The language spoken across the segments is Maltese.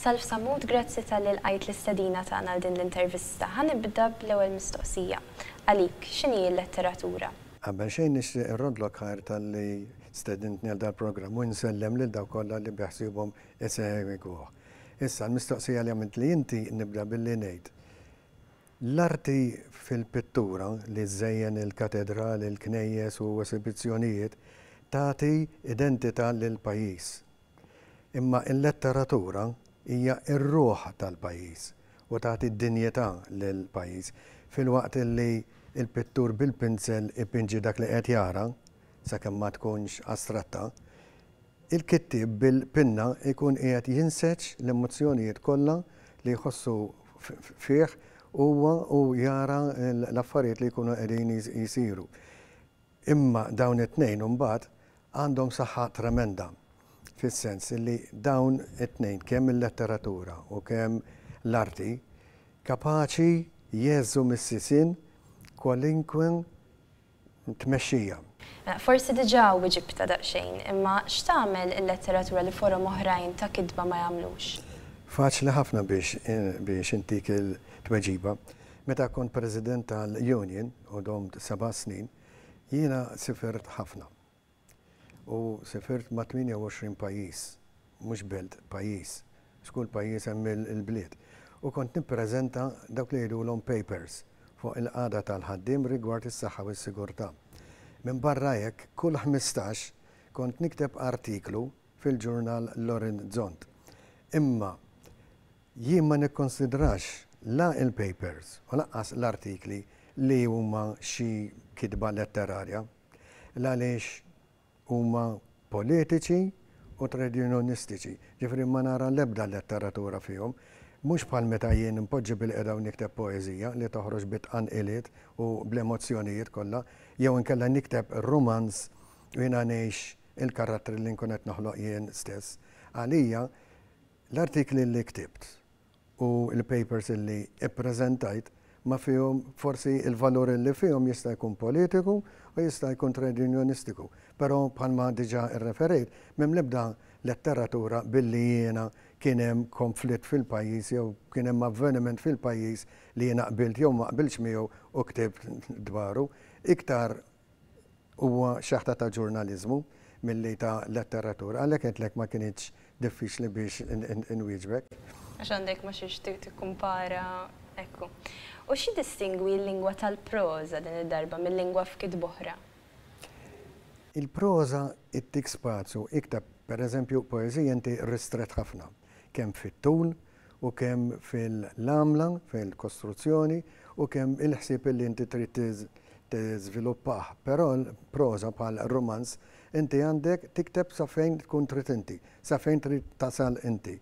Salv Sammut, grazzi talli lqajt l-istedina tagħna għal din l-intervista. Ħa nibda bl-ewwel mistoqsija. Għalik, x'inhi l-letteratura? Qabel xejn nixtieq irroddlok ħajr talli stedintni għal dal-programm u insellem lil dawk kollha li biħsiebhom isegwuh. Issa, l-mistoqsija li għamiltli inti nibda billi ngħid, L-arti fil-pittura li żżejjen il-katedrali, il-knejjes u esibizzjonijiet tagħti identità lill-pajjiż. Imma l-letteratura hija r-ruħ tal-pajjiż u tagħti dinjità lill-pajjiż. Filwaqt li l-pittur bil-pinsel ipinġi dak li qed jara, sakemm ma tkunx astratta, Il-kittieb bil-pinna jkun qiegħed jinseġ l-emozzjonijiet kollha li jħossu fih huwa u jara l-affarijiet li jkunu qegħdin jsiru. Imma dawn it-tnejn imbagħad għandhom saħħa tremenda fis-sens li dawn it-tnejn kemm il-letteratura u kemm l-arti kapaċi jgħeżżu mis-sisien kwalinkwe tmexxija. Forsi diġà wiġibtha daqsxejn, imma x'tagħmel il-letteratura li forom oħrajn ta' kitba ma jagħmlux? Faċli ħafna biex intik il-tweġiba. Meta kont President tal-Union, u domt seba' snin, jiena sifirt ħafna. U sifirt ma' 28 pajjiż, mhux belt, pajjiż, għax kull pajjiż hemm il-bliet, u kont nippreżenta dawk li jgħidulhom papers fuq il-qagħda tal-ħaddiem rigward is-saħħa u s-sigurtà. Minbarra hekk, kull ħmistax kont nikteb artiklu fil-ġurnal L-Orizzont. Imma jien ma nikkunsidrax la l-papers u lanqas l-artikli li huma xi kitba letterarja. l għaliex huma politiċi u trejdjunjonistiċi, jiġifieri ma nara l-ebda letteratura fihom. Mhux bħal meta jien inpoġġi bil-qiegħda u nikteb poeżija li toħroġ bi tqanqiliet u bl-emozzjonijiet kollha, jew inkella nikteb rumanz u jiena ngħix il-karattri li nkun qed noħloq jien stess. Għalija, l-artikli li ktibt u l-papers illi ppreżentajt ma fihom, forsi l-valur illi fihom jista' jkun politiku u jista' jkun trejdjunjonistiku, però bħalma diġà rreferejt m'hemm l-ebda letteratura billi jiena kien hemm konflitt fil-pajjiż jew kien hemm avveniment fil-pajjiż li jiena qbilt jew ma qbiltx miegħu u ktibt dwaru, iktar Huwa xaħta ta' ġurnaliżmu milli ta' letteratura, għalhekk għedtlek ma kinitx diffiċli biex inwieġbek. Għax għandek ma' xiex tikkumpara, ekku. U x'jiddistingwi l-lingwa tal-proża din id-darba mil-lingwa f'kitb oħra? Il-proża ttik spazju iktar, pereżempju, poeżija inti ristrett ħafna, kemm fit-tul, u kemm fil-għamla, fil-kostruzzjoni, u kemm il-ħsieb li inti trid tiżviluppah. Però proża bħal rumanz inti għandek tikteb sa fejn tkun trid inti, sa fejn trid tasal inti,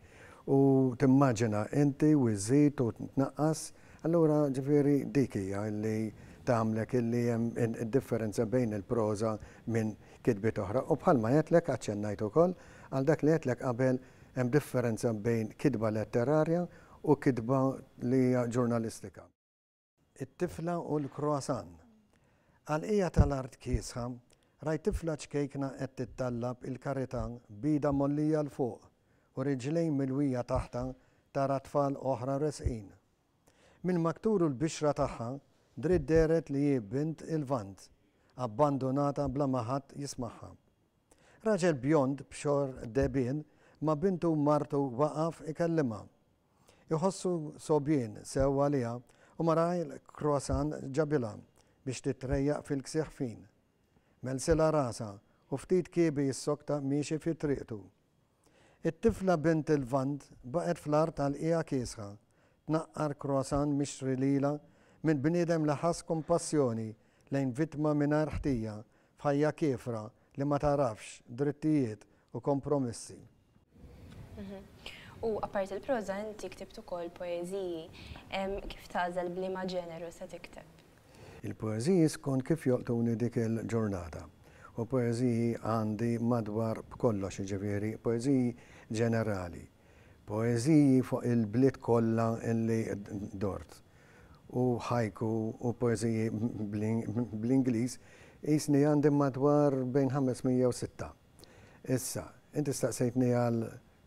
u timmaġina inti u żżid u tnaqqas, allura ġifieri dik hija li tagħmlek li hemm id-differenza bejn il-proża minn kitbiet oħra. U bħalma għedtlek, aċċennajt ukoll, għal dak li għedtlek qabel Hemm differenza bejn kitba letterarja u kitba li hija ġurnalistika. It-tifla u l-croissant. Għall-qiegħa tal-art kiesħa, rajt tifla ċkejkna qed tittallab il-karità b'idha mgħollija 'l fuq u riġlejn milwija taħtha tara tfal oħra resqin. Mill-maktur u l-bixra tagħha dritt dehret li hi bint il-Lvant, abbandunata bla ma ħadd jismagħha. Raġel bjond b'xogħol dehbien ma' bintu u martu waqaf ikellimha. Iħossu sogħbien sew għaliha u mara l-croissant ġabilha biex titrejjaq fil-ksieħ fin. Mellsilha rasha u ftit kiebi jissokta miexi fi triqtu. It-tifla bint il-Lvant baqgħet fl-art għal qiegħa kiesħa, tnaqqar croissant mixtri lilha minn bniedem li ħass kumpassjoni lejn vittma mingħajr ħtija f'ħajja kiefra li ma tagħrafx drittijiet u kompromissi. U apparti l-proża inti ktibt ukoll poeżiji. Kif tagħżel b'liema ġeneru se tikteb? Il-poeżiji skont kif jolqtuni dik il-ġurnata. U poeżiji għandi madwar b'kollox jiġifieri poeżiji ġenerali. Poeżiji fuq il-bliet kollha li dort. U haiku u poeżiji bl-Ingliż qisni għandi madwar bejn 500 u sitta. Issa, inti staqsejtni għal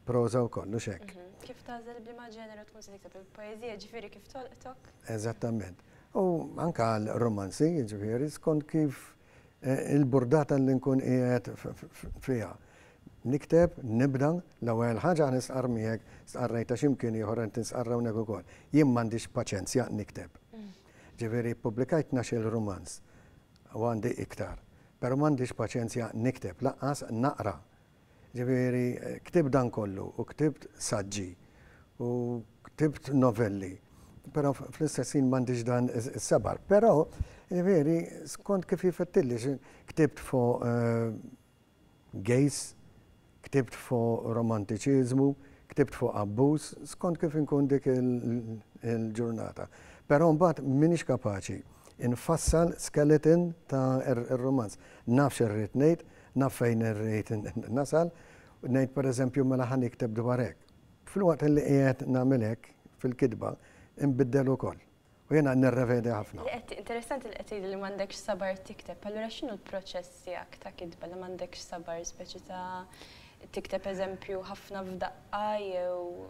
proża wkoll, hux hekk? Kif tagħżel b'liema ġeneru tkun se tikteb il-poeżija, ġifieri kif tolqtok? Eżattament. U anke għal rumanzi, jiġifieri skont kif il-burdata li nkun qiegħed fiha. Nikteb, nibda, l-ewwel ħaġa nistqarr miegħek, stqarrejtha xi mkien ieħor qed nistqarr hawnhekk ukoll. Jien m'għandix paċenzja nikteb. Ġifieri ppubblikajt tnax-il rumanz. U għandi iktar. Però m'għandix paċenzja nikteb, lanqas naqra. Ġifieri, ktibt dan kollu, u ktibt saġġi, u ktibt novelli, però fl-istess ħin m'għandix dan is-sabar. Però, ġifieri, skont kif jifettilli, ktibt fuq Gays, ktibt fuq romantiċiżmu, ktibt fuq abbuż, skont kif inkun dik il-ġurnata. Però mbagħad m'iniex kapaċi nfassal skeleton ta' r-rumanz. Naf x'irrid ngħid, naf fejn irrid nasal, ngħid pereżempju mela ħa nikteb dwar hekk. Filwaqt li qiegħed nagħmel hekk fil-kitba, inbiddel ukoll. u jiena nirrevedi ħafna. Interessanti li qed tgħidli li m'għandekx sabar tikteb, allura x'inhu l-proċess tiegħek ta' kitba li m'għandekx sabar, speċi ta' tikteb eżempju ħafna f'daqqa jew.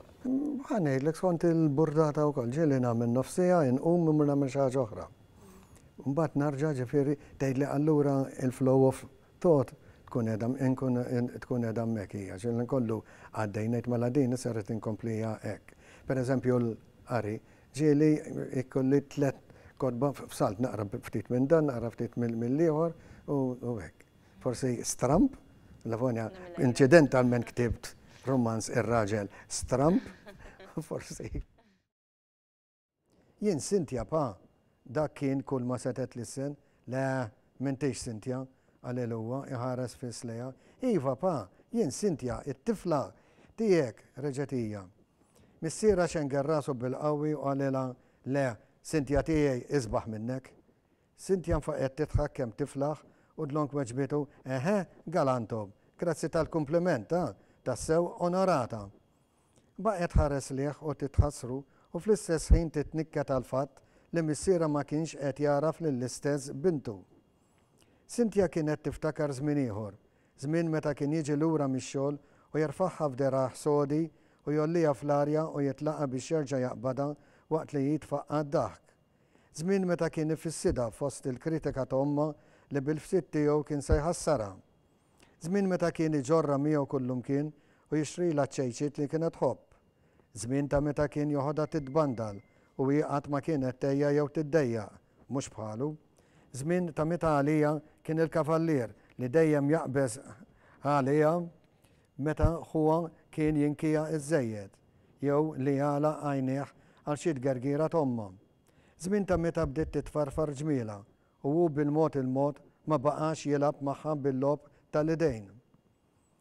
Ħa ngħidlek skont il-burdata wkoll, ġieli nagħmel nofs siegħa, inqum immur nagħmel xi ħaġa oħra. Mbagħad narġa' ġifieri tgħidli allura l-flow of thought tkun qiegħda inkun tkun qiegħda hemmhekk hija, xi nkollu għaddej ngħid mela din issa rrid inkompliha hekk. Pereżempju l-qari, Ġieli jkolli tliet kotba f'salt, naqra ftit minn dan, naqra ftit mill-ieħor u hekk. Forsi stramb, Lavonia incidentalment ktibt rumanz Ir-Raġel Stramb, forsi. Jien Cynthia Pa, Dak kien kulma setgħet lissen. Le, m'intix Cynthia, qalil huwa, iħares fiss lejha. Iva, Pa, jien Cynthia, it-tifla tiegħek, reġgħet hija. Missierha xenger rasu bil-qawwi u qalilha, Le, Cynthia tiegħi isbaħ minnek. Cynthia nfaqgħet tidħak kemm tiflaħ u dlonk weġbitu, Eħe, galantum, grazzi tal-kumpliment, ha, tassew onorata. Baqgħet tħares lejh u titħassru u fl-istess ħin titnikket għall-fatt li missierha ma kienx qed jagħraf lill-istess bintu. Cynthia kienet tiftakar żmien ieħor, żmien meta kien jiġi lura mix-xogħol u jerfagħha f'dergħajh sodi u jgħolliha fl-arja u jitlaqha biex jerġa' jaqbadha waqt li hi tfaqqa' d-daħk. Żmien meta kien ifissidha fost il-kritika ta' ommha li bil-ftit tiegħu kien se jħassarha. Żmien meta kien iġorrha miegħu kullimkien u jixtrilha ċ-ċejċiet li kienet tħobb. Żmien ta' meta kien joħodha titbandal u hi qatt ma kienet tgħejja jew tiddejjaq, mhux bħalu. Żmien ta' meta għaliha kien il-kavallier li dejjem jaqbeż għaliha meta ħuha kien jinkiha iżżejjed jew li jagħlaq għajnejh għal xi tgergira t'ommha. Żmien ta' meta bdiet titfarfar ġmielha u hu bil-mod il-mod ma baqax jilgħab magħha bil-logħob ta' l-idejn.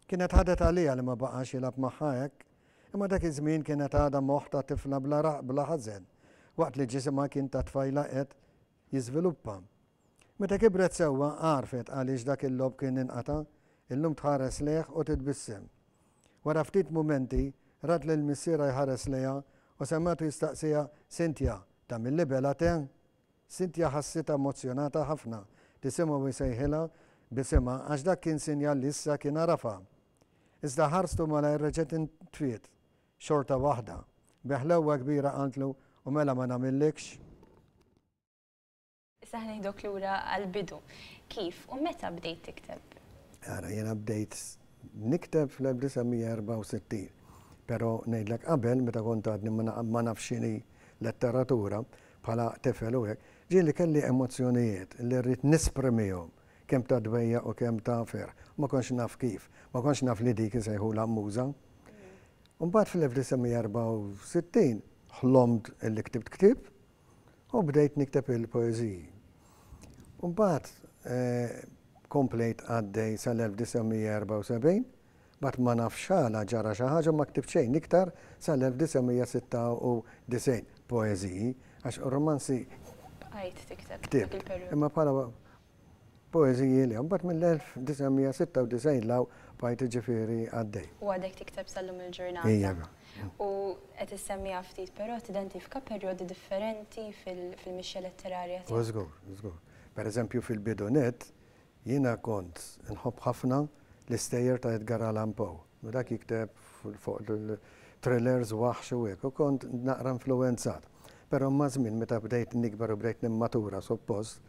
Kienet ħadet għaliha li ma baqax jilgħab magħha hekk, imma dak iż-żmien kienet għadha moħħ ta' tifla bla raqq bla ħażen, waqt li ġisimha kien ta' tfajla qed jiżviluppa. Meta kibret sewwa għarfet għaliex dak il-logħob kien inqata', illum tħares lejh u titbissem. Wara ftit mumenti, rat lil missierha jħares lejha u semgħetu jistaqsiha, Cynthia, tagħmilli bela te? Cynthia ħassitha emozzjonata ħafna li semgħu jsejħilha b'isimha għax dak kien sinjal li issa kien għarafha. Iżda ħarstu malajr reġgħet intfiet xorta waħda. Bi ħlewwa kbira qaltlu, U mela ma nagħmillikx? Issa ħnieħduk lura għall-bidu. Kif u meta bdejt tikteb? Ara, jiena bdejt nikteb fl-1964. Però ngħidlek qabel meta kont għadni ma nafx x'inhi letteratura, bħala tifel u hekk, ġieli kelli emozzjonijiet li rrid nesprimihom, kemm ta' dbejjaq u kemm ta' ferħ. Ma kontx naf kif. Ma kontx naf li dik isejħulha muża. Imbagħad fl-1964 ħlomt li ktibt ktieb u bdejt nikteb il-poeżiji. U mbagħad komplejt għaddej sal-1974 Mbagħad ma nafx għala ġara xi ħaġa u ma ktibt xejn iktar sal-1996, poeżiji, għax romanzi ktibt, imma bħala poeżiji le. Mbagħad mill-1996 'l hawn bqajt jiġifieri għaddej. U għadek tikteb sal-lum il-ġurnata. Iva. U qed issemmiha ftit, però tidentifika perjodi differenti fil-mixja letterarja tiegħek. Żgur, żgur. Pereżempju fil-bidu nett, Jiena kont inħobb ħafna l-istejjer ta' Edgar Allan Poe, u dak jikteb fuq thrillers, waħx u hekk, u kont naqra influwenzat. Però maż-żmien meta bdejt nikber u bdejt nimmatura suppost,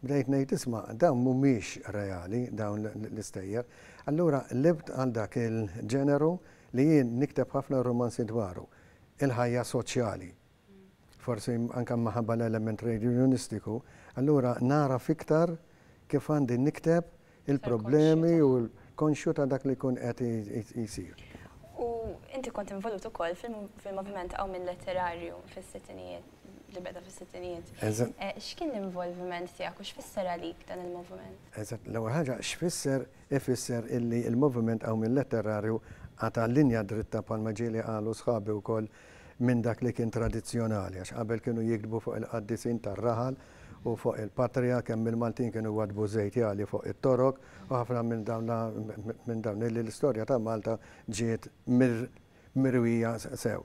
bdejt ngħid isma' dawn mhumiex reali dawn l-istejjer. Allura qlibt għal dak il-ġeneru li jien nikteb ħafna rumanzi dwaru, il-ħajja soċjali, forsi anke minħabba l-element trejdjunjonistiku, allura nagħraf iktar kif għandi nikteb il-problemi u konxju ta' dak li jkun qed isir. U inti kont involut ukoll fil-moviment Qawmien Letterarju fis-sittinijiet, li beda fis-sittinijiet. X'kien l-involviment tiegħek u x'fisser għalik dan il-moviment? Eżatt, l-ewwel ħaġa x'fisser, ifisser illi l-moviment Qawmien Letterarju qata' linja dritta bħalma ġieli qalu sħabi wkoll minn dak li kien tradizzjonali għax qabel kienu jiktbu fuq il-qaddisin tar-raħal u fuq il-patrija kemm il-Maltin kienu jwaddbu żejt jagħli fuq it-Torok u ħafna minn dawn minn dawn illi l-istorja ta' Malta ġiet mirwija sew.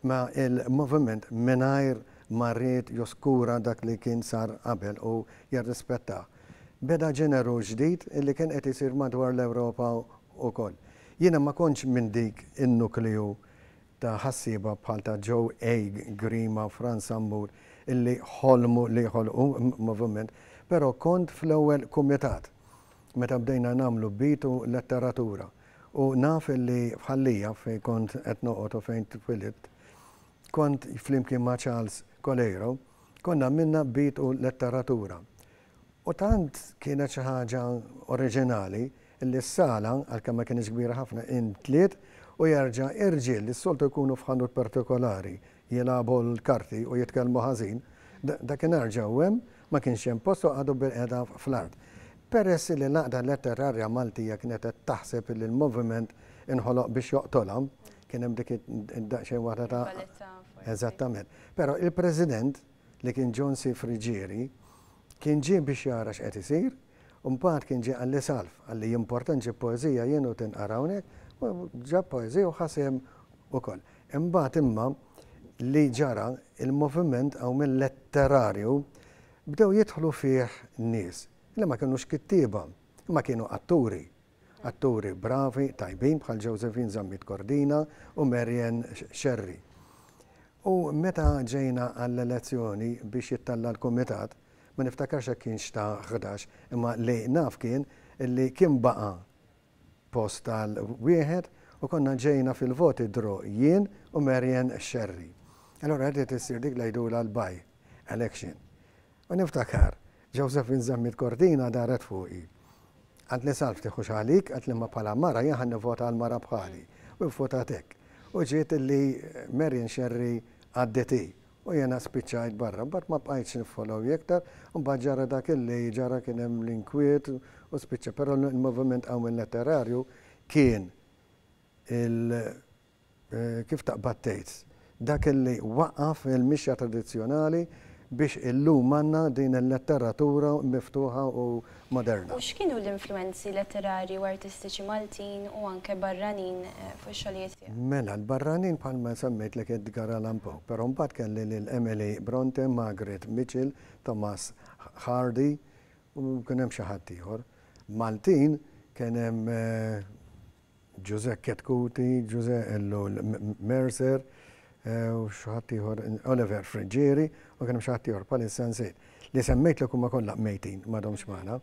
Ma il-moviment mingħajr ma ried joskura dak li kien sar qabel u jirrispettah. Beda ġeneru ġdid illi kien qed isir madwar l-Ewropa ukoll. Jiena ma kontx minn dik in-nukleu ta' ħassieba bħal ta' Joe A. Grima, Frans Sambur, illi ħolmu li jħolqu moviment, però kont fl-ewwel kumitat meta bdejna nagħmlu beat u letteratura u naf illi f'Ħal Lija fejn kont qed noqgħod u fejn twilidt, kont flimkien ma' Charles Coleiro, konna għamilna beat u letteratura. U tant kienet xi ħaġa oriġinali li s-sala, għalkemm ma kinitx kbira ħafna, intliet u jerġa' irġiel li s-soltu jkunu f'ħanut partikolari jilagħbu l-karti u jitkellmu ħażin, dakinhar ġew hemm, ma kienx hemm post u qagħdu bilqiegħda fl-art. Peress li l-Għaqda Letterarja Maltija kienet qed taħseb li l-moviment inħoloq biex joqtolha, kien hemm dik id-daqsxejn waħda ta' Eżattament. Però il-President, li kien John C. Friggieri, kien ġie biex jara x'qed isir, u mbagħad kien ġie qalli Salv, qalli jimporta nġib poeżija jien u tinqara hawnhekk, u ġab poeżija u ħa sehem ukoll. Imbagħad imma li ġara, il-moviment hawn letterarju bdew jidħlu fih nies li ma kinux kittieba, imma kienu atturi. Atturi bravi, tajbin bħal Josephine Zammit Cordina u Marian Scerri. U meta ġejna għall-elezzjoni biex jittella' l-kumitat, ma niftakarx jekk kienx ta' ħdax, imma li naf kien li kien baqa' post għal wieħed u konna ġejna fil-voti draw jien u Marian Scerri. Allura rdiet issir dik li jgħidulha l-by election. U niftakar, Josephine żammiet kortina, daret fuqi. Għadni Salv, tieħux għalik, għedt l-imma bħala mara jien ħa nivvota għal mara bħali. U vvotat hekk. U ġiet li Marion Scerri għaddiet hi. U jiena spiċċajt barra. Mbagħad ma bqajtx niffollow hi aktar. Mbagħad ġara dak li ġara kien hemm l-inkwiet u spiċċa. Però l-moviment qawmien letterarju kien il. Kif taqbad tgħid? Dak illi waqqaf il-mixja tradizzjonali biex illum għandna din il-letteratura miftuħa u moderna. U x'kienu l-influwenzi letterarji u artistiċi Maltin u anke barranin fuq ix-xogħlijiet tiegħek? Mela, l-barranin bħalma semmejtlek Edgar Allan Poe, però mbagħad kelli lil Emily Brontë, Margaret Mitchell, Thomas Hardy u kien hemm xi ħadd ieħor. Maltin kien hemm, José Chetcuti, José Ellul Mercer u xi ħadd ieħor, Oliver Friggieri u kien hemm xi ħadd ieħor bħalissa nsejt. Li semmejtlek huma kollha mejtin, m'għadhomx magħna.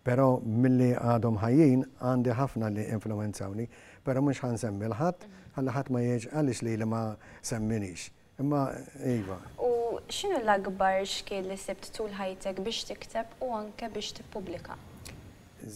Però milli għadhom ħajjin għandi ħafna li influwenzawni, però mhux ħa nsemmi 'l ħadd ħalli ħadd ma jgħidx għaliex lili ma semminix. Imma iva. U x'inhu l-akbar xkiel li sibt tul ħajtek biex tikteb u anke biex tippubblika?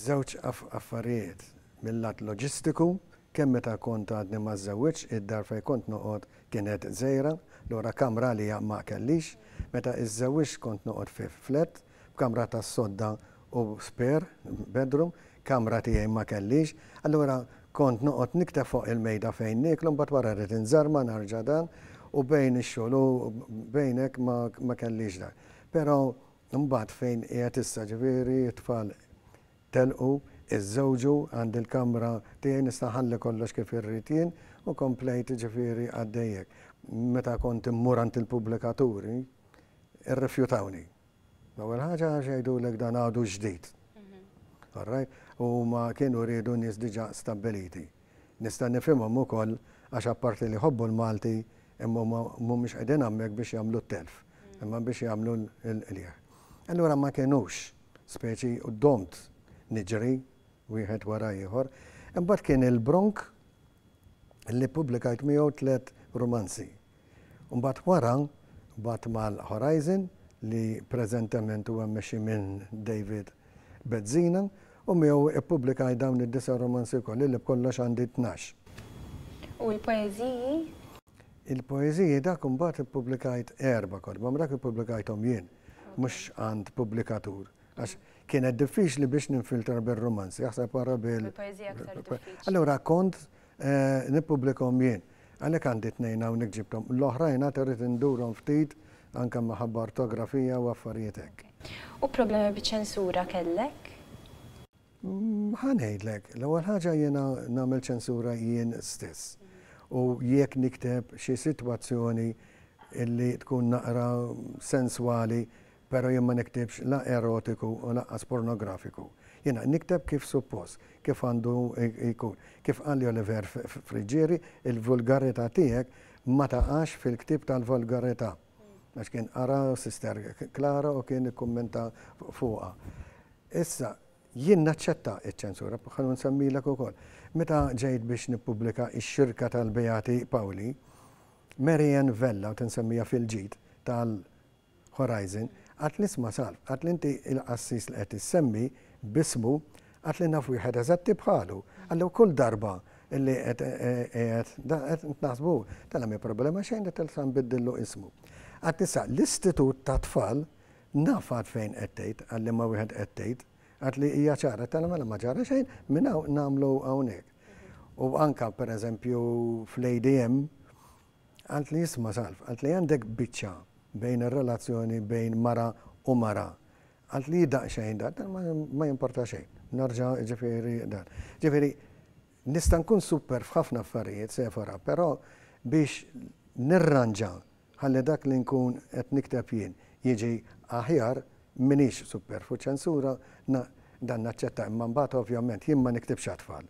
Żewġ affarijiet, mil-lat loġistiku, kemm meta kont għadni ma żżewwġtx, id-dar fejn kont noqgħod kienet żgħira, lura kamra għalija ma kellix. Meta żżewwġt kont noqgħod fi flett, b'kamra tas-sodda u spare bedroom, kamra tiegħi ma kellix, allura kont noqgħod nikteb fuq il-mejda fejn nieklu mbagħad wara rrid inżarma narġa' dan u bejn ix-xogħol u bejn hekk ma kellix dak. Però mbagħad fejn qiegħed issa ġifieri t-tfal telqu, iżżewġu, għandi l-kamra tiegħi nista' nħalli kollox kif irrid jien u komplejt ġifieri għaddej hekk. Meta kont immur għand il-pubblikaturi, irrifjutawni. L-ewwel ħaġa għax jgħidulek dan għadu ġdid. All right? U huma kienu riedu nies diġà stabbiliti. Nista' nifhimhom ukoll għax apparti li jħobbu l-Malti imma huma mhumiex qegħdin hawnhekk biex jagħmlu t-telf, imma biex jagħmlu l-qligħ. Allura ma kinux, speċi u domt niġri wieħed wara ieħor. Imbagħad kien il-bronk li ppubblikajt miegħu tliet rumanzi. Mbagħad wara bgħadt mal-Horizon li preżentement huwa mmexxi minn David Bezzina u miegħu ppubblikajt dawn id-disa' rumanzi wkoll, illi b'kollox għandi tnax. U l-poeżiji? Il-poeżiji dak imbagħad ippubblikajt erba' kotba, ma dak ippubblikajthom jien, mhux għand pubblikatur. Għax kienet diffiċli biex ninfiltra bil-romanzi, jaħseb għara bil. Allura kont eh, nipublikom jien. Għalek għandi t-nejn għaw nikġibtom. L-oħrajn għat rrit indurom ftit anka maħabba ortografija u affarietek. U problemi bieċensura kellek? Mm, ħanejdlek, l-ewwel ħaġa jiena nagħmel ċensura jien stess. U jekk nikteb xi sitwazzjoni illi tkun naqra senswali Pero jien ma niktibx la erotiku u laqqas pornografiku. Jiena nikteb kif suppost, kif għandu jkun. Kif qalli Oliver Friggieri, il-vulgarità tiegħek ma taqax fil-ktieb tal-volgarità. Għax kien qara Sister Klara u kien ikkummenta fuqha. Issa, jien naċċetta ċ-ċensura, bħal ma nsemmilek ukoll. Meta ġejt biex nippubblika Ix-Xirka tal-Beati Pawli, Mary Ann Vella, u tinsemmiha fil-ġid tal-, Horizon, għad nisma' Salv, għad li inti il-qassis li qed issemmi b'ismu, għad li naf wieħed eżatti bħalu. Għad li kull darba li qed qiegħed qed naħsbu, tela' m'hi problema xejn li tilsa nbiddillu ismu. Għad issa l-istitut tat-tfal naf għad fejn qed tgħid, għal liema wieħed qed tgħid, għad li hija ċara, tela' mela ma ġara xejn, minn hawn nagħmlu hawnhekk. U anke pereżempju fl-ADM, Qaltli isma' Salv, qaltli għandek biċċa bejn ir-relazzjoni bejn mara u mara. Qaltli hi daqsxejn dan, dan ma jimporta xejn. Narġa' ġifieri dan. Ġifieri nista' nkun super f'ħafna affarijiet, Sephora, però biex nirranġa ħalli dak li nkun qed nikteb jien jiġi aħjar, m'iniex super. Fuċ-ċensura dan naċċetta imma mbagħad ovvjament jien ma niktibx għat-tfal.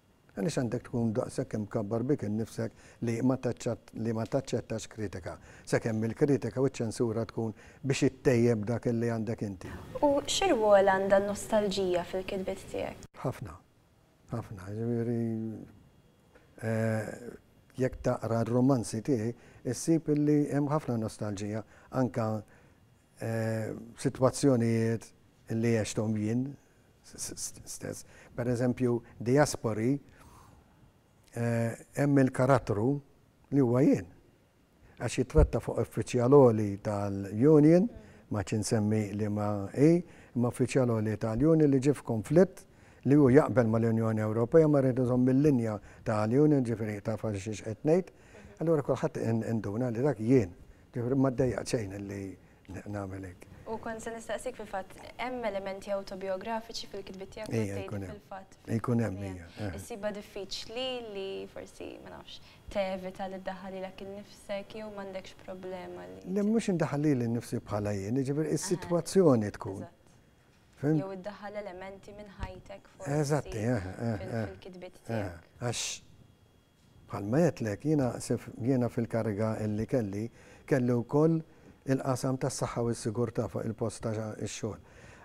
Għaliex għandek tkun daqshekk imkabbar bik innifsek li ma li ma taċċettax kritika, sakemm il-kritika u ċ-ċensura tkun biex ittejjeb dak illi għandek inti? U xi rwol għandha n-nostalġija fil-kitbiet tiegħek? Ħafna. Ħafna. Jiġifieri jekk taqra r-rumanzi tiegħi, issib illi hemm ħafna nostalġija, anke sitwazzjonijiet illi għexthom jien, stess. Pereżempju, diaspori, hemm il-karattru li huwa jien. Għax jittratta fuq uffiċjal għoli tal-union, ma għadx insemmi liema hi, imma uffiċjal għoli tal-union li ġie f'kunflitt li hu jaqbel mal-Unjoni Ewropea ma jrid iżomm il-linja tal-union, jiġifieri taf għal xiex qed ngħid. Allura kulħadd induna li dak jien. Jiġifieri ma ddejjaqt xejn li nagħmel hekk. U kont se nistaqsik fil-fatt, hemm elementi awtobijografiċi fil-kitbiet tiegħek li tgħid fil-fatt. Ikun hemm hija. Issibha diffiċli li forsi, ma nafx, tevita li ddaħħal lilek innifsek jew m'għandekx problema li. Le mhux indaħħal lili nnifsi bħala jien, jiġifieri is-sitwazzjoni tkun. Jew iddaħħal elementi minn ħajtek forsi. Eżatt, fil-kitbiet tiegħek. Għax Bħalma għedtlek, jiena jiena fil-kariga li kelli, kelli wkoll il-qasam tas-saħħa u s-sigurtà fuq il-post ta' x-xogħol.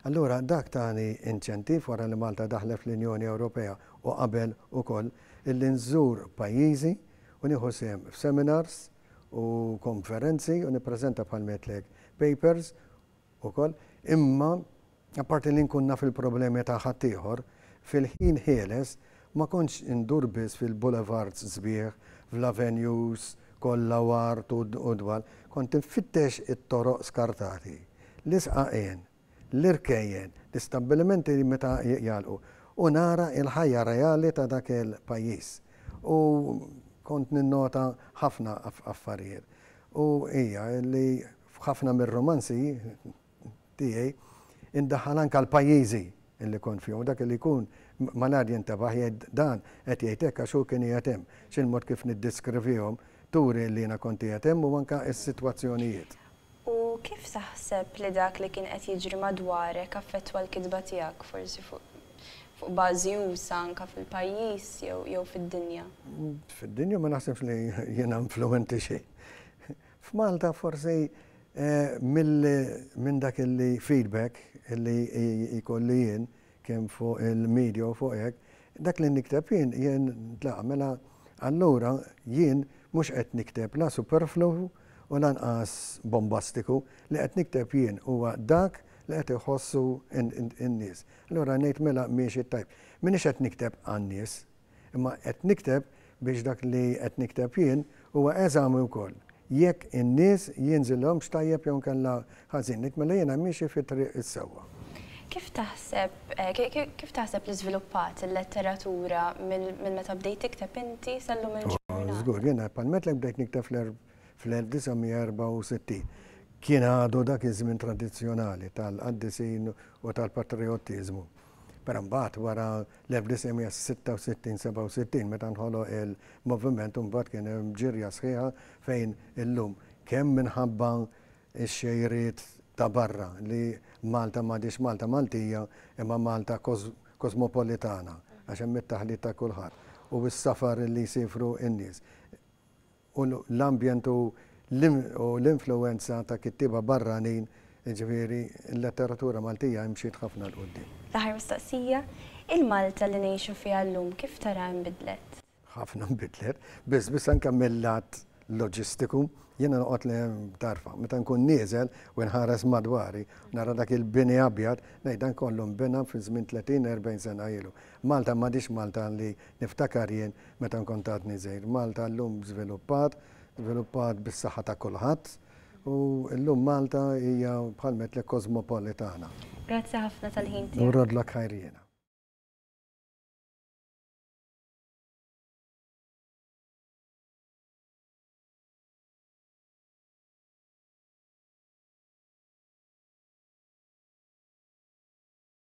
Allura dak tani inċentiv wara li Malta daħlet fl-Unjoni Ewropea u qabel ukoll illi nżur pajjiżi u nieħu sehem f'seminars u konferenzi u nippreżenta bħalma għedtlek papers ukoll imma Apparti li nkun naf il-problemi ta' ħaddieħor, fil-ħin ħieles ma kontx indur biss fil-boulevards sbieħ, fl-avenues kollha u art u dwal. Kont infittex it-toroq skartati, l-isqaqien, l-irkejjen, l-istabbilimenti li meta jagħlqu u nara l-ħajja reali ta' dak il-pajjiż. U kont ninnota ħafna affarijiet. U hija li f'ħafna mir-rumanzi, tiegħi indaħħal anke għal pajjiżi li kont fihom u dak li jkun malajr jintebaħ jgħid dan qed jgħid hekk għax hu kien qiegħed hemm. X'il-mod kif niddiskrivihom turi li jiena kont qiegħed hemm u anke s-sitwazzjonijiet. U kif taħseb li dak li kien qed jiġri madwarek affettwa l-kitba tiegħek, forsi fuq bażi usa' anke fil-pajjiż jew fid-dinja? Fid-dinja ma naħsibx li jiena influwenti xejn. F'Malta forsi minn dak il-feedback li jkolli jien kemm fuq il-media u fuq hekk, dak li nikteb jien, jien tlaqqa' mela allura jien mhux qed nikteb la superflu u lanqas bombastiku, li qed nikteb jien huwa dak li qed iħossu n-nies. Allura ngħid mela miexi t-tajb. M'iniex qed nikteb għan-nies, Imma qed nikteb biex dak li qed nikteb jien huwa eżami wkoll jekk in-nies jinżilhomx tajjeb jew inkella ħażin. Ngħid mela jiena miexi fit-triq is-sewwa. Kif taħseb kif taħseb li żviluppat il-letteratura minn meta bdejt tikteb inti sal-lum il-ġurnata? Żgur, jiena bħal mettlek bdejt nikteb fl-1964. Kien għadu dak iż-żmien tradizzjonali tal-qaddisin u tal-patrijottiżmu. Però mbagħad wara l-1966, 67 meta nħoloq il-moviment imbagħad kien hemm ġirja sħiħa fejn illum kemm minħabba x-xejriet ta' barra li Malta m'għadhiex Malta Maltija imma Malta kosmopolitana għax hemm it-taħlit ta' kulħadd u s-safar li jsifru n-nies. u l-ambjent u l-influwenza ta' kittieba barranin, jiġifieri l-letteratura Maltija imxiet ħafna 'l quddiem. L-aħħar mistoqsija, il-Malta li ngħixu fiha llum kif taraha nbidlet? Ħafna nbidlet, biss biss anke mil-lat loġistiku. Jiena noqgħod tarfa, meta nkun nieżel u nħares madwari, nara dak il-bini abjad, ngħid dan kollu nbena fi żmien tletin, erbgħin sena ilu. Malta m'għadhiex Malta li Niftakar jien meta nkont għadni żgħir. Malta llum żviluppat, żviluppat bis-saħħa ta' kulħadd u llum Malta hija bħal ngħidlek kosmopolitana. Grazzi ħafna tal-ħin tiegħek. Nurrodlok ħajr jiena.